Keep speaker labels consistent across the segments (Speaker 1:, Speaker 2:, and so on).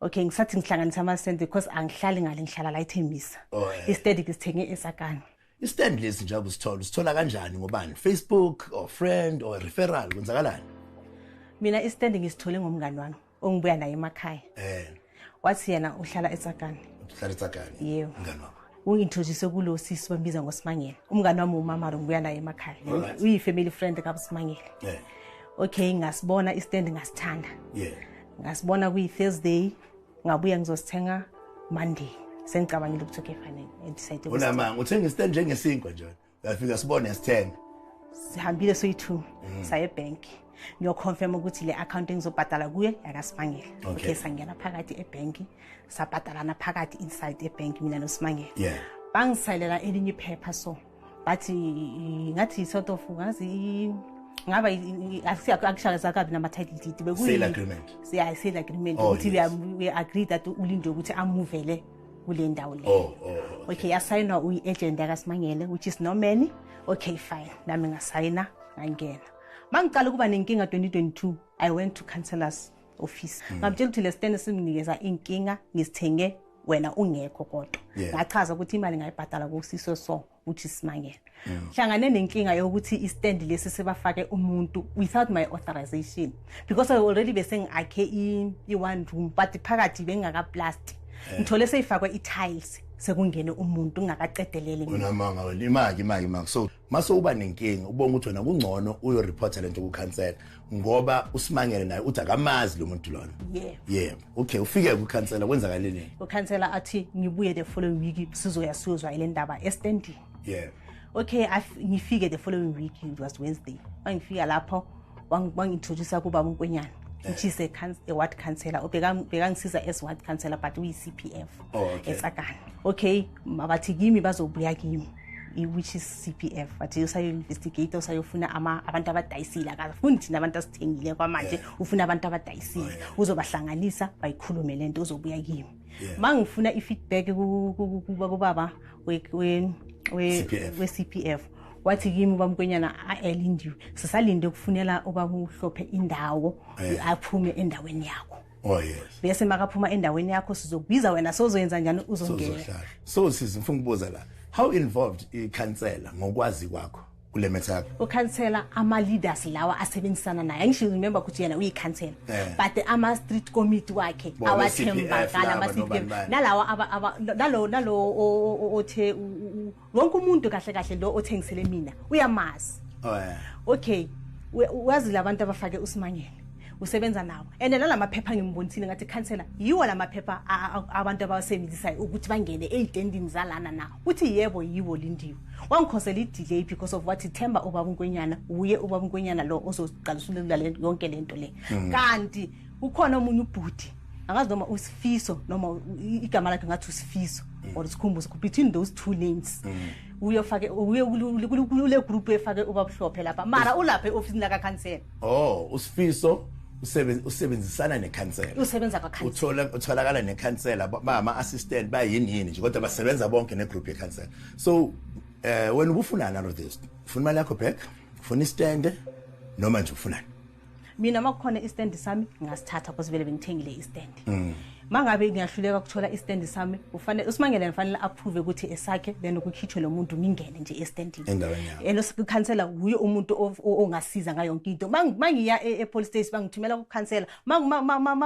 Speaker 1: okay ngisathi ngihlanganisa amasente because angihlali ngale ngihlala la ithembisa oh, eh. isteady ngisithenge esakani istand lesi
Speaker 2: njengoba usithola usithola kanjani ngobani facebook or friend or referral kwenzakalani mina
Speaker 1: istand ngisithole ngomngani wami ongibuya naye emakhaya eh wathi yena uhlala esakani uhlala esakani
Speaker 2: yebo mngani wami ungintroduce kulo
Speaker 1: sisi bambiza ngosimangele umngane wami umama lo ngibuya naye emakhaya uyi-family friend kabusimangele yeah. okay ngasibona istand ngasithanda yeah. ngasibona kuyi-thursday ngabuya ngizosithenga monday sengicabangile ukuthi okay fanele udecide unamanga uthenga istand
Speaker 2: njengesinkwa njalo uyafika sibone sithenge sihambile
Speaker 1: soyi-two mm. saye ebhenki ngiyoconfirma ukuthi le akhawunti engizobhadala kuyo yakasimangela okay, okay sangena phakathi ebhenki sabhadalana phakathi inside ebhenki mina nosimangela yeah. bangisayilela elinye iphepha so bathi ngathi yi-sort of ngazi ngaba akushakaza kabi nama-title deed bekuyi-sale
Speaker 2: agreement
Speaker 1: ukuthi we agree that ulinde ukuthi amuvele kule ndawo leyo oh, oh, oh, okay yasayinwa uyi-agent yakasimangele which is norman okay fine nami ngasayina ngangena ma ngiqala ukuba nenkinga 2022 i went to councellors office hmm. ngamtshela ukuthi le stende simnikeza inkinga ngisithenge wena ungekho kodwa ngachaza ukuthi imali ngayibhadala kusiso so uthi simangele mm. hlangane nenkinga yokuthi istand lesi sebafake umuntu without my authorization because i already bese ngiakhe i-one room but phakathi bengingakaplast eh. ngithole seyifakwe i-tiles sekungene umuntu ungakaqedelele unamanga wena
Speaker 2: imaki imaki imaki so mase uba nenkinga ubonga ukuthi wena kungcono uyoreporta lento kukhansela ngoba usimangele naye uthi akamazi lo muntu lona yebo yebo okay ufike kukhansela kwenzakaleni ukhansela athi ngibuye
Speaker 1: the following week sizoya siyozwa ile ndaba estandini yebo okay ngifike the following week it was wednesday mangifika lapho wangintroduce kuba unkwenyana which is a, a ward councillor bekangisiza as ward councillor but uyi-c p f oh, okay. esakana okay bathi kimi bazobuya kimi which is CPF wathi usayo-investigate usayofuna abantu abadayisile akafuni thina abantu asithengile kwamanje ufuna abantu abadayisile oh, uzobahlanganisa bayikhulume le nto uzobuya kimi ma ngifuna i-feedback kubaba we-CPF wathi kimi ubaba mkwenyana aelindiwe sisalinde ukufunela ubaba uhlophe indawo aphume endaweni yakho Oh yes. Bese makaphuma endaweni yakho sizokubiza wena sozoyenza njani uzongena. So sisi
Speaker 2: ngifuna ukubuza la. How involved ikhansela ngokwazi kwakho? kule metha yakho ukhansela ama
Speaker 1: leaders lawa asebenzisana naye angisho remember ukuthi yena uyikhansela eh. but ama street committee wakhe awathembakala ama CPF nalawa nalo nalo othe wonke umuntu kahle kahle lo othengisele mina uyamazi oh, okay wazi labantu abafake usimangele usebenza nawo and nala maphepha ngimbonisile ngathi khansela yiwo la maphepha abantu abawasebenzisayo ukuthi bangene ey'tendini zalana na uthi yebo yiwo lindiwe wangikhosela i-delay because of wathi themba ubaba unkwenyana wuye ubaba unkwenyana lo ozoqalisa ulula yonke le nto le mm. kanti ukhona omunye ubhuti angazi noma usifiso noma igama lakhe ngathi usifiso mm. or sikhumbuzo between those two names mm. uye ufake uye kule group efake ubabuhlophe lapha mara ulapha eofisini laka council oh usifiso
Speaker 2: usebenzisana nekhansela usebenza kwakhansela uthola
Speaker 1: utholakala nekhansela
Speaker 2: bama assistant bayini yini nje kodwa basebenza bonke ne group yekhansela so uh, eh, when ubufunana lo this ufuna imali yakho back ufuna istand noma nje
Speaker 1: ufunani mina uma kukhona istand sami ngasithatha because vele bengithengile
Speaker 2: istand
Speaker 1: mm. mangabe ngiyahluleka ukuthola istand sami ufanele usimangele ngifanele approve ukuthi esakhe then ukukhitshwe lo muntu ngingene nje estandini endaweni yakho elo
Speaker 2: sikhansela wuye
Speaker 1: umuntu ongasiza ngayo yonke into mangiya e, e police station bangithumela ukukhansela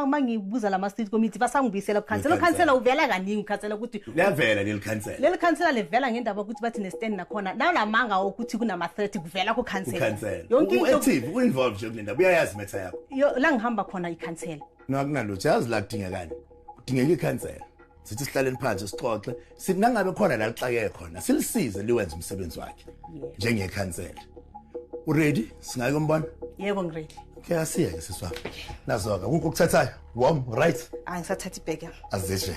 Speaker 1: mangibuza lama street committee basangibuyisela ukukhansela ukhansela uvela kaningi ukhansela ukuthi liyavela leli khansela
Speaker 2: leli khansela livela
Speaker 1: ngendaba yokuthi bathi nestand nakhona nalamanga okuthi kunama threat kuvela ku khansela yonke into active
Speaker 2: u involved nje kulendaba uyayazi metha yakho la ngihamba khona
Speaker 1: i khansela ngakunalutho yazi la
Speaker 2: kudingekani kudingeka i khansela sithi sihlaleni phansi sixoxe sithi nangabe khona la lixakeke khona silisize liwenze umsebenzi wakhe njenge khansela u ready singayike umbona yebo ngi ready
Speaker 1: ke asiyeke siswa
Speaker 2: nazoka kukho ukuthathayo wom right angisathathi ibheke
Speaker 1: azishe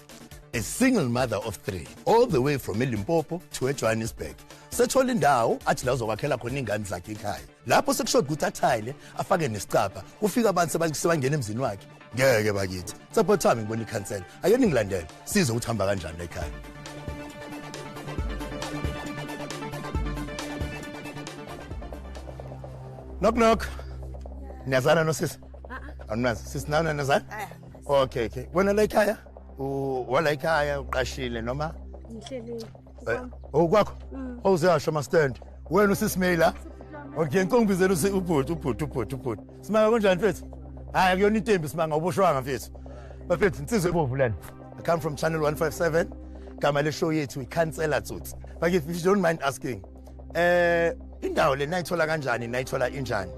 Speaker 2: a single mother of three all the way from elimpopo to ejohannesburg sethola indawo athi la uzokwakhela khona iy'ngane zakhe ekhaya lapho sekushoda ukuthi athayile afake nesicabha kufika abantu sebangena emzini wakhe ngeke bakithi saphothami ngibona ikhansela ake ningilandele size ukuthi hamba kanjani la ekhaya knock knock niyazana nosisi awunazi sisi nawe nanazana okay okay wena la ekhaya U- wala ekhaya uqashile noma ngihlelile
Speaker 3: Eh, oh
Speaker 2: kwakho Mm. owuzeyasho mastand wena usisimeyila okay nkombizela usi ubhuti ubhuti ubhuti ubhuti simanga kunjani mfethu hayi akuyona intembi simanga uboshwanga mfethu bafethu insizwe ebovu lena i come from channel 157 gama le show yethu ikhansela tsotsi bakithi if you don't mind asking eh indawo le nayithola kanjani nayithola injani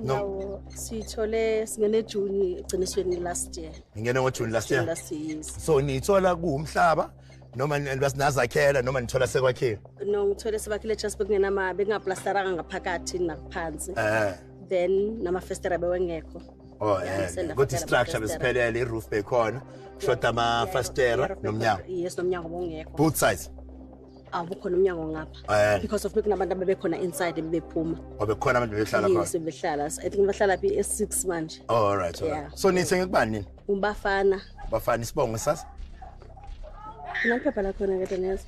Speaker 2: No.
Speaker 3: Sithole singene June egcinisweni last year. Ngingene ngo June last year.
Speaker 2: Last year. So nithola kuumhlaba noma ninazakhela noma nithola sekwakhiwe? No, ngithole sebakhile
Speaker 3: just bekungenama bekungaplasteranga ngaphakathi nakuphansi. Eh. Then nama festera bewengekho. Oh, eh. Ukuthi
Speaker 2: structure besiphelele iroof bekhona. Shoda ama fastera nomnyango. Yes, nomnyango bongekho.
Speaker 3: Both sides.
Speaker 2: awubukhona
Speaker 3: umnyango ngapha Eh. because of bekunabantu abebekhona inside bebephuma wabekhona abantu bebehlala
Speaker 2: yes khona bebehlala i think
Speaker 3: bahlala phi e-six manje oh all right all Yeah. right so
Speaker 2: nithenge kubani nini ubafana
Speaker 3: bafana isibongo
Speaker 2: sasa
Speaker 3: kunaliphepha lakhona kade neza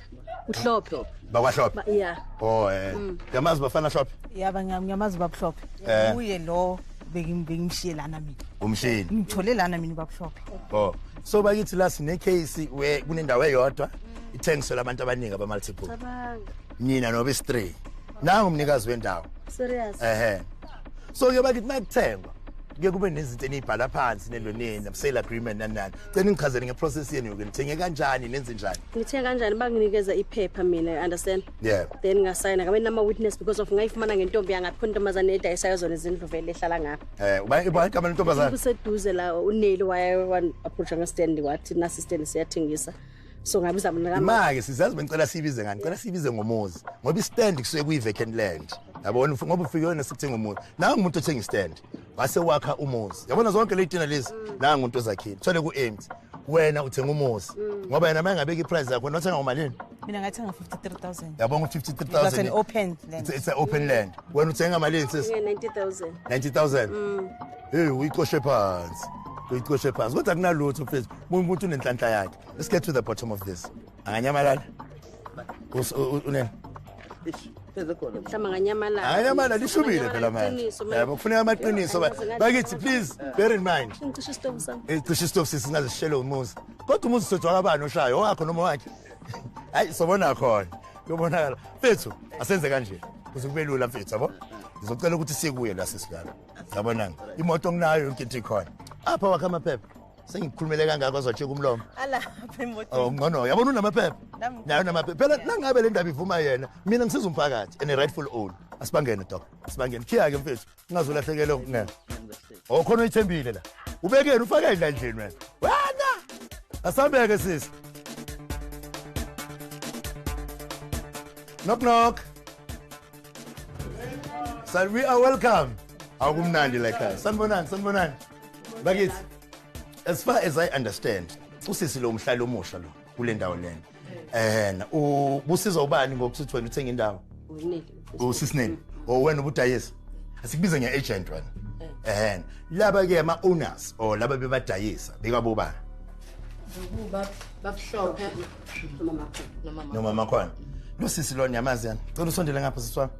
Speaker 3: uhlophe bakwahlophe Ba-
Speaker 2: ya oh
Speaker 3: eh Mm. yamazi
Speaker 2: bafana hlophe yaba ngiyam- ngiyamazi
Speaker 1: ubabuhlophe Eh. uye lo bekim- bengimshiye lana mina umshini ngimthole
Speaker 2: lana mina
Speaker 1: ubabuhlophe oh so
Speaker 2: bakithi la sine case we kunendawo eyodwa ithengiselwa abantu abaningi abamultiple Cabanga. nina noba istray nangu umnikazi wendawo Serious. ehe so ke bakithi makuthengwa ke kube nezinto eniyibhala phansi neloneni sale agreement nanani cela ngichazele ngeprocess yenu yoke nithenge kanjani nenze njani Ngithe kanjani banginikeza
Speaker 3: iphepha mina, you understand? yeah Then ngasayina
Speaker 2: kabe
Speaker 3: nama witness because of ngayifumana ngentombi yangaphi khona intombazane edayisayo zona izindlu vele ehlala ngapha. eh uba uba igama lentombazana
Speaker 2: Kuseduze la
Speaker 3: uneli waya wan approach ngestand wathi nasi stand siyathengisa. so ngabiza mina kama imake sizazi benicela
Speaker 2: sibize ngani cela sibize ngomuzi ngoba istand kusuke kuyi vacant land yabona ngoba ufike wena sikuthenga umuzi nawe umuntu othenga istand wase wakha umuzi yabona zonke leyidina lezi nawe umuntu ozakhile thole ku empty wena uthenga umuzi mm. ngoba yena uma engabeki iprice yakho nothenga ngomalini mina ngathenga
Speaker 1: 53000 yabonga 53000 it's
Speaker 2: open
Speaker 1: land it's an open land
Speaker 2: wena uthenga malini sis 90000 90000 mm.
Speaker 3: hey
Speaker 2: uyicoshe phansi uyicoshe phansi kodwa kunalutho mfethu Buka ukuthi unenhlanhla yakhe. Let's get to the bottom of this. Anganyamalala. Us unen. Ish. mhlawumbe
Speaker 3: nganyamalala anyamalala lishubile
Speaker 2: phela manje yabo kufuneka amaqiniso bakithi please bear in mind ngicishe isitofu sami
Speaker 3: eh, cishe isitofu sisi
Speaker 2: ngazishele umuzi kodwa umuzi sojwa kabani oshayo owakho noma wakhe hayi sobona khona lobonakala mfethu asenze kanje kuze kube lula mfethu yabo ngizocela ukuthi sikuye la sisilala yabonanga imoto nginayo yonke into ikhona apha wakhe amaphepha sengikhulumele kangako azwajika umlomo
Speaker 1: oh, ngcono yabona unamaphepha
Speaker 2: nayo namaphepha phela nangabe le ndaba ivuma yena mina ngisiza umphakathi and rightful own asibangene dok asibangene khiya-ke mfethu ungazulahlekele ngena o oh, khona uyithembile la ubekeni ufake endlandleni wena wena asambeke sisi knock knock sir we are welcome akumnandi la ekhaya sanibonani sanibonani bakithi as far as i understand usisi lo mhlali omusha lo kule ndawo lena eh ubusizwa ubani ngokuthi uthi wena uthenga indawo usisineni o wena ubudayisa asikubize nge-agent wena eh laba-ke ama-owners or laba bebadayisa bekabobani noma makhona lo sisi lona yamazi yani cela usondele ngapha siswami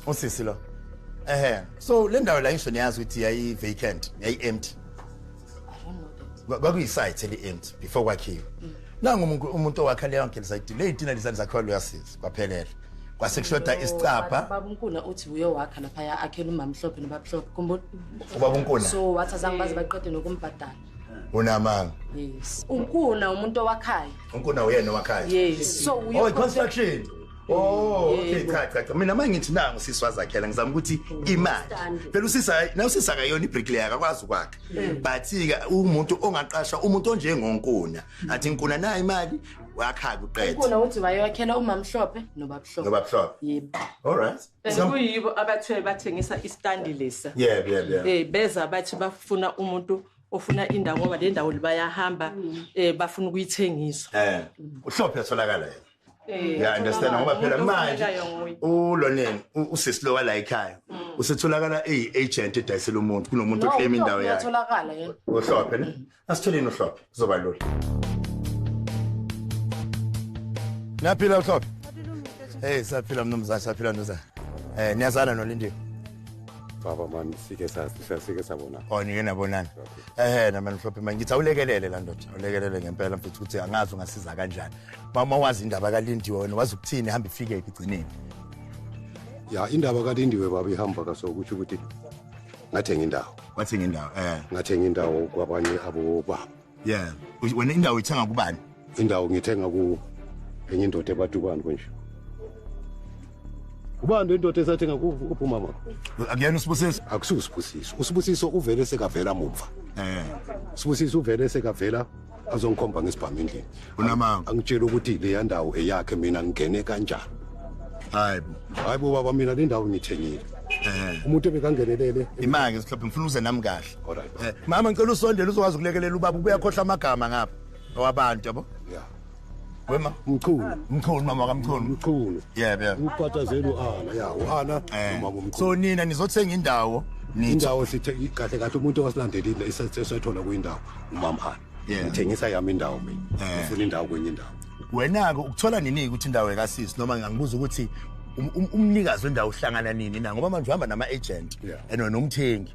Speaker 2: usisi lo ehe so le ndawo la ngisho niyazi ukuthi yayi vacant yayi empty kwakuyisite eli empty before kwakhiwe mm. nangu umuntu umuntu owakha leyo ngeke site le itina lizani zakhiwa luyasiza kwaphelela kwasekushoda isicapha babunkuna uthi uyo
Speaker 4: wakha lapha ya akhela umamhlophe nobabhlophe kumbo ubabunkuna so
Speaker 2: wathi azange baze
Speaker 4: baqede nokumbhadala unamanga
Speaker 2: yes
Speaker 4: unkuna umuntu owakhayo unkuna uyena owakhayo
Speaker 2: yes so uyo oh,
Speaker 4: construction
Speaker 2: Oh, okay cha cha cha. Mina mangithi nangu sisi wazakhela ngizama ukuthi imali. Phela usisa hayi, na usisa akayona ibricklayer akakwazi ukwakha. But ke umuntu ongaqasha umuntu onjengonkuna. Athi nkuna na imali wakha kuqeda. Nkuna uthi wayokhela
Speaker 4: umamhlophe nobabhlophe. Nobabhlophe. Yebo. All right.
Speaker 2: Sekuyibo abathe
Speaker 5: bathengisa istand lesa. Yebo, yebo, yebo. Eh
Speaker 2: beza bathi
Speaker 5: bafuna umuntu ofuna indawo ngoba le ndawo libayahamba mm. eh bafuna ukuyithengisa. Eh. Uhlophe
Speaker 2: atholakala yena. Eh, ya understand ngoba phela manje uloneni usisi lo wala ekhaya mm. usetholakala eyi agent edayisela umuntu kunomuntu oclaim indawo yakhe uyatholakala yena
Speaker 4: uhlophe ne
Speaker 2: asitholeni uhlophe kuzoba lula Naphila uhlophe Hey saphila mnumzane saphila mnumzane Eh niyazana nolindiwe baba
Speaker 6: mani sike sasike sabona oh nike nabonana
Speaker 2: ehe namani mhlophe manje ngithi awulekelele la ndoda awulekelele ngempela mfethu ukuthi angazi ungasiza kanjani mama wazi indaba kalindiwe wena wazi ukuthini hamba ifike ekugcineni
Speaker 6: ya indaba kalindiwe baba ihamba kaso ukuthi ukuthi ngathenga indawo wathenga indawo eh
Speaker 2: ngathenga indawo
Speaker 6: kwabanye abobaba yeah
Speaker 2: wena indawo ithenga kubani indawo ngithenga
Speaker 6: ku enye indoda ebatukwane konje ubani lendoda esathenga kuphuma mama akuyena usibusiso
Speaker 2: akususibusiso
Speaker 6: usibusiso uvele sekavela mumva eh sibusiso uvele sekavela azongikhomba ngesibhamu endlini unamanga angitshela
Speaker 2: ukuthi leya
Speaker 6: ndawo eyakhe mina ngingene kanjani hayi bo hayi bo baba mina le ndawo ngithengile umuntu ebekangenelele imake sihlophe ngifuna
Speaker 2: uze nami kahle mama ngicela
Speaker 6: usondele
Speaker 2: uzokwazi ukulekelela ubaba ubuyakhohla amagama ngapha owabantu yabo yeah
Speaker 6: wema
Speaker 2: mchunu mchunu mama kamchunu mchunu yebo yebo ukukhathazela uana
Speaker 6: ya uana eh. uma kumchunu so nina nizothenga
Speaker 2: indawo indawo sithe
Speaker 6: kahle kahle umuntu owasilandelile isathola kuyindawo umama ana ngithengisa yami indawo mina eh. ngifuna indawo kwenye indawo wena-ke
Speaker 2: ukuthola nini ukuthi indawo ekasisi noma ngangibuza ukuthi um, um, umnikazi wendawo uhlangana nini na ngoba manje uhamba nama-agent and nomthengi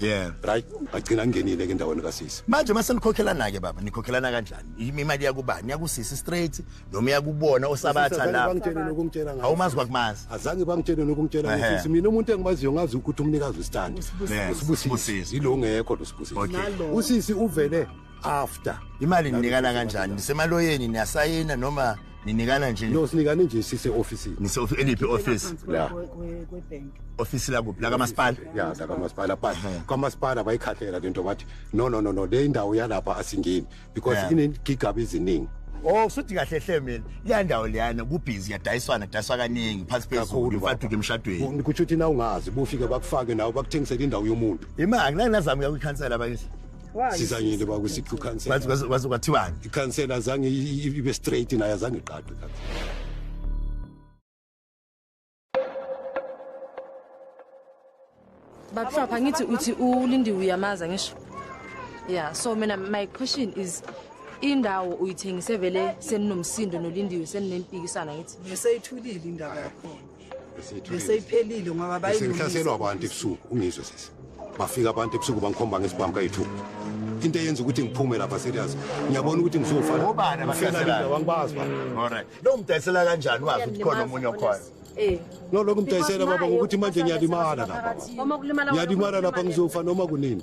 Speaker 6: yeah right agcina ngenile ke endaweni kasisi manje mase nikhokhelana
Speaker 2: ke baba nikhokhelana kanjani imali yakubani yakusisi straight noma yakubona osabatha la bangitshela nokungitshela ngayo
Speaker 6: awumazi kwakumazi azange
Speaker 2: bangitshele
Speaker 6: nokungitshela ngayo mina umuntu engimaziyo ngazi ukuthi umnikazi ustand usibusisi yilo ngekho lo sibusisi usisi uvele after imali ninikana
Speaker 2: kanjani nisemaloyeni niyasayina noma ninikana nje no sinikane nje sise
Speaker 6: office nise office eliphi office
Speaker 2: la
Speaker 7: office la kuphi la
Speaker 2: kamasipala ya la kamasipala
Speaker 6: but kamasipala bayikhathela lento bathi no no no no le indawo yalapha asingeni because inegigaba iziningi Oh suthi kahle
Speaker 2: hle mina le ndawo leyana kubhizi yadayiswana dayiswa kaningi phansi phezulu mfaduke emshadweni ukuthi uthi na ungazi
Speaker 6: bufike bakufake nawo bakuthengisele indawo yomuntu imali ngeke nazami
Speaker 2: ukuyikhansela bakithi sizanyile uba
Speaker 6: kusithi ukhansela waze kwathiwani
Speaker 2: ikhansela azange
Speaker 6: ibe straight naye azange iqaqe ikhansela
Speaker 4: babuhlapha ngithi uthi ulindiwe uyamaza ngisho yeah so mina my question is indawo uyithengise vele seninomsindo nolindiwe seninempikisana ngithi ngiseyithulile indaba
Speaker 7: yakhona beseyiphelile ngoba bayihlaselwa abantu
Speaker 6: ebusuku ungizwe sisi bafika abantu ebusuku bangikhomba ngesibhamu kayi-two into eyenza ukuthi ngiphume lapha serious ngiyabona ukuthi ngizofanaangibaziloo
Speaker 2: mdayisela kanjani wazi ukuthi
Speaker 6: khona
Speaker 2: omunye okhona
Speaker 6: eh. no lokhu mdayisela baba ngokuthi manje ngiyalimala lapha ngiyalimala
Speaker 3: lapha ngizofa
Speaker 6: noma kunini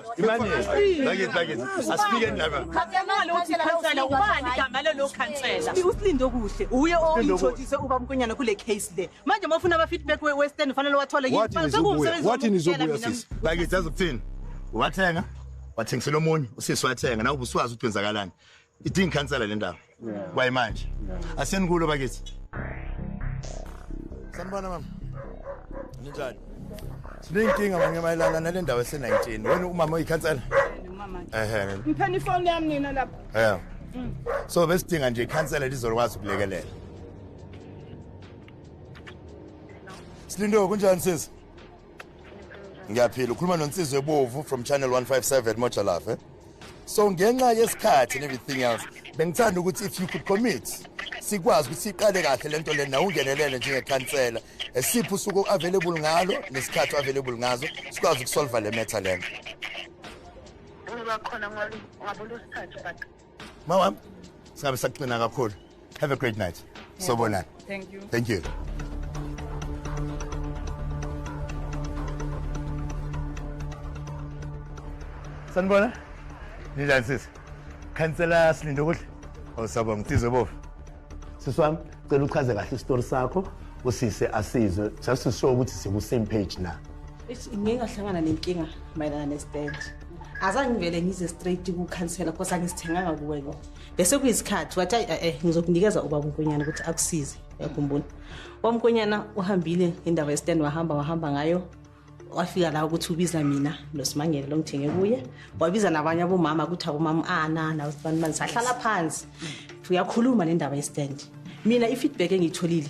Speaker 2: Imani, like it, like it. Asifike ndaba. Khathemali uthi
Speaker 8: khansela ubani igama lelo khansela. Usilinde okuhle. Uye oyintshothise uba mkonyana kule case le. Manje mafuna ama feedback we Western fanele wathole yini? Sekumsebenzi. Wathi
Speaker 6: nizobuya sisi. Like it, azokuthini?
Speaker 2: Wathenga? Wathengisela omunye, usisi wathenga. Nawu buswazi ukuthi wenzakalani. idinga ikhansela le ndaba kwayimanje asenikulo bakithi sanibona mama ninjani sineyinkinga manye mayelana nale ndawo ese-19 wena umama oyikhansela ehe
Speaker 7: ngipheni ifoni yami nina lapho yeah mm. so
Speaker 2: besidinga nje ikhansela lizokwazi ukulekelela silindo kunjani sisi ngiyaphila ukhuluma nonsizwe ebovu from channel 157 mojalafe so ngenxa yesikhathi and everything else bengithanda ukuthi if you could commit sikwazi ukuthi siqale kahle le nto lena ungenelele njengekhansela esiphi usuku u-available ngalo nesikhathi u-available ngazo sikwazi ukusolva le metha lena ngibakhona
Speaker 9: ngabona usithathu but mawam
Speaker 2: singabe sakuqina kakhulu have a great night sobonana thank you
Speaker 7: thank
Speaker 2: you sanibona ninjani sisi khansela silinde ukudla osaba oh, ngitizwe bovu sisi wami
Speaker 10: cela uchaze kahle isitori sakho usise asizwe just to show ukuthi siku-same page na ngike ngahlangana
Speaker 1: nenkinga mayelana nestand azange ngivele ngize straight kukhansela because angisithenganga kuwena bese kuyisikhathi wathi ayi eh, eh ngizokunikeza ubaba unkonyana ukuthi akusize yakhumbula wamkonyana uhambile indawo yestand wahamba wahamba ngayo wafika la ukuthi ubiza mina nosimangele lo ngithenge kuye wabiza nabanye abomama ukuthi abomama anana ah, usibanibani sahlala phansi uyakhuluma nendaba yestand mina i-feedback engiyitholile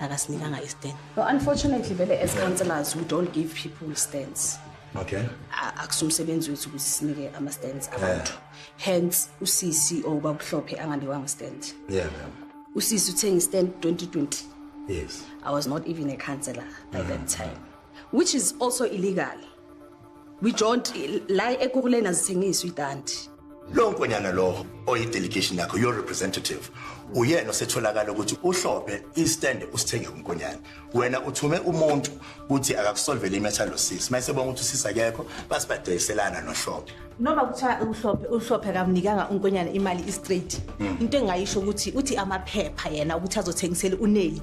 Speaker 1: akasinikanga istand no unfortunately vele as councillors we don't give people stands okay
Speaker 2: akusumsebenzi
Speaker 1: wethu ukuthi sinike ama stands abantu hence uCC or babuhlophe anganikwanga stand yeah ma'am
Speaker 2: uSisi uthenga
Speaker 1: stand 2020 yes i
Speaker 2: was not even a
Speaker 1: councillor by that mm-hmm. time which is also illegal Wijont la ekuruleni azithengiswa itanti. Lo nkonyana
Speaker 2: lo oyidelegation yakho your representative uyena osetholakala ukuthi uhlophe istand usithenge kunkonyana wena uthume umuntu ukuthi akakusolvele imetha lo sisi mayise bonga ukuthi usisa kekho basibadeyiselana nohlophe noma kuthiwa
Speaker 1: uhlophe uhlophe kamnikanga unkonyana imali istraight hmm. into engayisho ukuthi uthi amaphepha yena ukuthi azothengisela uneli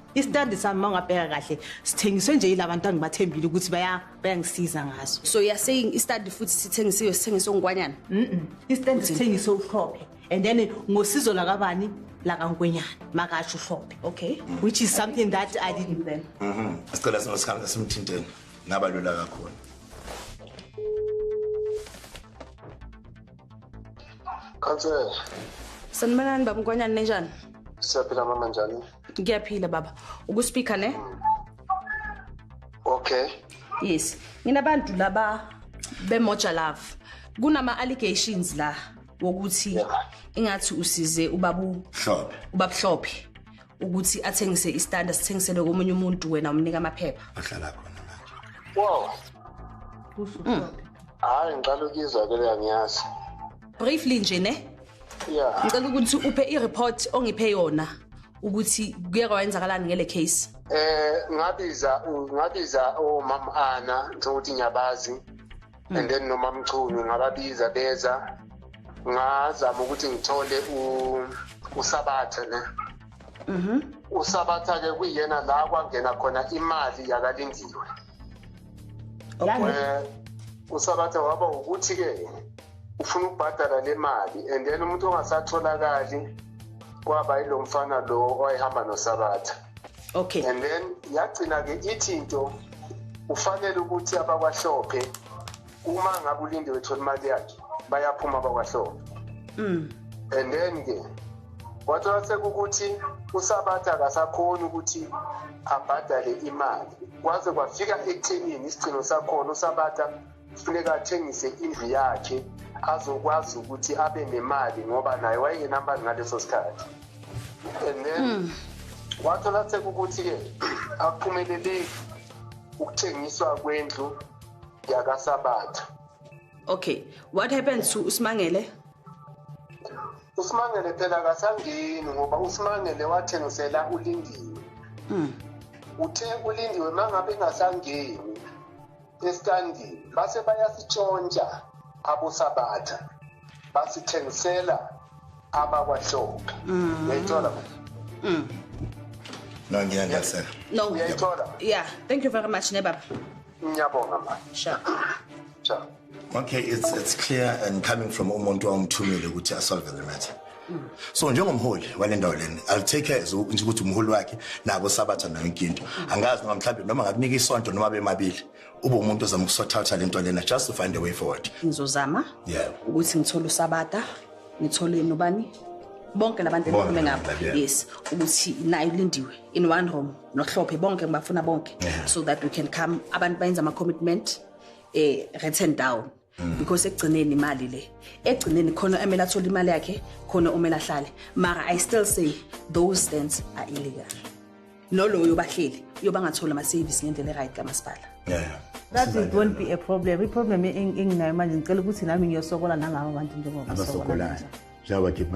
Speaker 8: isitandi sami uma ungabheka kahle sithengiswe nje yilaba bantu angibathembile ukuthi baya bayangisiza ngaso so you're saying isitandi
Speaker 3: futhi sithengisiwe sithengiswe ngikwanyana mm isitandi
Speaker 8: sithengiswe uhlophe and then ngosizo lakabani lakankwenyana makasho uhlophe okay which is
Speaker 3: something that
Speaker 8: i didn't then mhm sicela singosikhambe
Speaker 10: simthinteni ngaba lula kakhulu Kansela.
Speaker 3: Sanibonani baba Nkwanyana ninjani? Siyaphila mama
Speaker 11: njani? ngiyaphila baba
Speaker 3: ukuspeaker ne
Speaker 11: okay yes
Speaker 3: nginabantu laba bemoja love kunama allegations la wokuthi ingathi usize ubabu hlophe ubabuhlophe ukuthi athengise istanda sithengisele komunye umuntu wena umnika amaphepha ahlala khona
Speaker 10: manje wow
Speaker 11: hayi ngicela ukizwa ke leyangiyazi briefly nje
Speaker 3: ne yeah ngicela
Speaker 11: ukuthi uphe
Speaker 3: i-report ongiphe yona ukuthi kuye kwayenzakalani ngele case eh ngabiza
Speaker 11: ngabiza omama ana njengokuthi ngiyabazi hmm. and then nomamchunu ngababiza beza ngazama ukuthi ngithole usabatha ne mhm usabatha ke kuyena la kwangena khona imali yakalindiwe eh, usabatha waba ukuthi-ke ufuna ukubhadala le mali and then umuntu ongasatholakali kwaba yilo mfana lo owayehamba nosabatha okay and
Speaker 3: then
Speaker 11: yagcina-ke ithi into ufanele ukuthi abakwahlophe uma ngabe ulinde wethola imali yakhe bayaphuma bakwahlobo mm. and then ke wathola sekukuthi usabatha akasakhoni ukuthi abhadale imali kwaze kwafika ekuthenini isigcino sakhona usabatha kufuneka athengise indlu yakhe azokwazi ukuthi abe nemali ngoba naye wayengenamali ngaleso sikhathi and then mm. wathola sekukuthi-ke akuphumeleleki ukuthengiswa kwendlu yakasabatha
Speaker 3: okay what happened to usimangele
Speaker 11: usimangele phela kasangeni ngoba usimangele wathengisela ulindiwe mm. uthe ulindiwe mangabe engasangeni estandini base bayasitshontsha abosabatha basithengisela abakwahlophe mm. uyayithola mm.
Speaker 10: no ngiyangiyasela no uyayithola
Speaker 3: yeah
Speaker 11: thank you very
Speaker 3: much nebaba
Speaker 11: Ngiyabonga manje. Sure. Sure. Okay, it's
Speaker 10: it's clear and coming from umuntu owamthumile ukuthi asolve the matter. so njengomholi wale ndawo lena i'll take care as nje ukuthi umholi wakhe nabo sabatha nayo inkinto angazi noma mhlawumbe noma ngakunika isonto noma bemabili ube umuntu ozama ukusothatha lento lena just to find a way forward ngizozama yeah
Speaker 3: ukuthi ngithole usabata ngithole nobani bonke labantu engikhulume ngabo yes ukuthi nayo lindiwe in one room nohlophe bonke ngibafuna bonke yeah. so that we can come abantu bayenza ama commitment eh written down mm. because ekugcineni imali le ekugcineni khona emela athola imali yakhe khona umela ahlale mara i still say those stands are illegal noloyo bahleli uyoba ngathola ama service ngendlela eright kamasipala yeah,
Speaker 1: yeah. that it won't be a problem i problem enginayo manje ngicela ukuthi nami ngiyosokola nangawo abantu njengoba
Speaker 10: basokolayo
Speaker 1: njengoba keep my